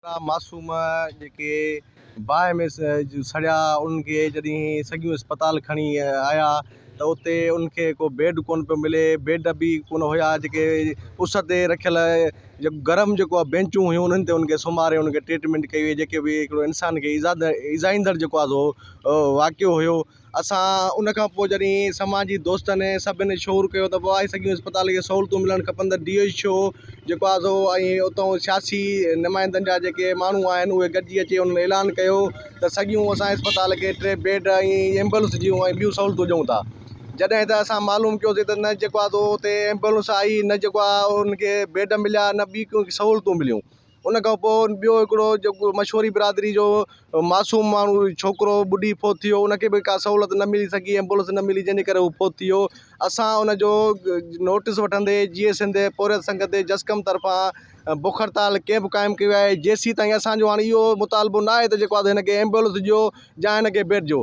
اهڙا معصوم جيڪي باهه ۾ سڙيا انهن کي جڏهن سڳيون اسپتال کڻي آيا ته اتي انهن کي ڪو بيڊ ڪونه پيو ملي بيڊ به ڪونه هيا جيڪي اس تي رکيل جيڪو گرم جيڪو آهي بينچون هيون انهن تي انهن کي سمهاري انهن کي ٽريٽمينٽ ڪئي وئي جيڪي به هڪڙو انسان کي ايذا ايذائيندڙ جيڪو آهي سو واقعو هيو اسان ان کان پوء جڏهن سماجي دوستن ۽ سڀن شعور ڪيو ته واهه سڳي اسپتال کي سهولتون ملڻ کپن ته ڊي ايڇ او جيڪو آزو ۽ اتئون سياسي نمائندن جا جيڪي ماڻهو آهن اهي گڏجي اچي انهن اعلان ڪيو ته سڳيون اسان اسپتال کي ٽي بيڊ ۽ ايمبولنس جون ۽ ٻيون سهولتون ڏيون ٿا جڏهن ته اسان معلوم ڪيوسي ته نه جيڪو آزو اتي ايمبولنس آئي نه جيڪو آهي ان کي بيڊ مليا نه ٻي ڪو سهولتون مليون ان کان پوء ٻيو هڪڙو جيڪو مشوري برادري جو معصوم ماڻهو ڇوڪرو ٻڏي فوت ٿي ويو ان کي به ڪا سهولت نه ملي سگهي ايمبولينس نه ملي جنهن جي ڪري هو فوت ٿي ويو اسان ان جو نوٽس وٺندي جيئي سنڌ پورهيت سنگت جي جسقم طرفان بک هڙتال ڪيمپ قائم ڪيو ويو آهي جيسين تائين اسان جو هاڻي اهو مطالبو نه آهي ته جيڪو آهي سو هن کي ايمبولينس ڏيو يا هن کي بيڊ ڏيو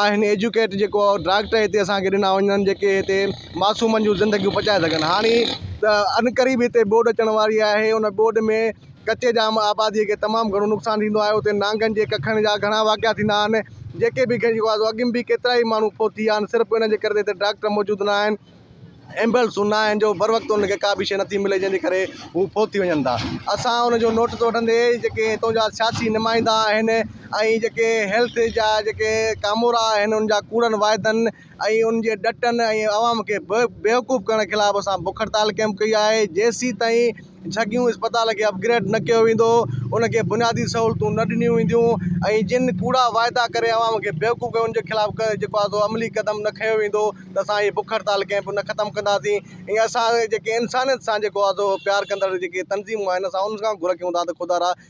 آهن ايجوڪيٽ جيڪو ڊاڪٽر هتي اسان کي ڏنا وڃن جيڪي هتي معصومن جون زندگيون بچائي سگهن هاڻي ته ان ڪري به هتي ٻوڏ اچڻ واري آهي ان ٻوڏ ۾ ڪچي جام آبادي کي تمام گهڻو نقصان ٿيندو آهي اتي نانگن جي ڪکن جا گهڻا واقعا ٿيندا آهن جيڪي به اڳ ۾ به ڪيترائي ماڻهو فوت ٿي ويا آهن صرف ان جي ڪري ته هتي ڊاڪٽر موجود ناهن ايمبولينس نه آهن جو بر وقت انهن کي ڪا به شيء نٿي ملي جنهن جي ڪري هو فوت ٿي وڃن ٿا اسان ان جو نوٽس وٺندي جيڪي هتو جا سياسي نمائندا آهن ۽ جيڪي هيلٿ جا جيڪي ڪامورا آهن ان جا ڪوڙن واعدن ۽ ان جي ڏٽن ۽ عوام کي بيوقوف ڪرڻ خلاف اسان بک هڙتال ڪيمپ ڪئي آهي جيسين تائين جهڳيون اسپتال کي اپ گريڊ نه ڪيو ويندو، ان کي بنيادي سهولتون نه ڏنيون وينديون ۽ جن ڪوڙا واعدا ڪري عوام کي بيوقوف ڪيو ان جي خلاف جيڪو آهي سو عملي قدم نه کنيو ويندو ته اسان هي بک هڙتال ڪنهن به نه ختم ڪنداسين ۽ اسان جيڪي انسانيت سان جيڪو آهي سو پيار ڪندڙ جيڪي تنظيمون آهن اسان ان کان گهر رکيون ٿا ته خدارا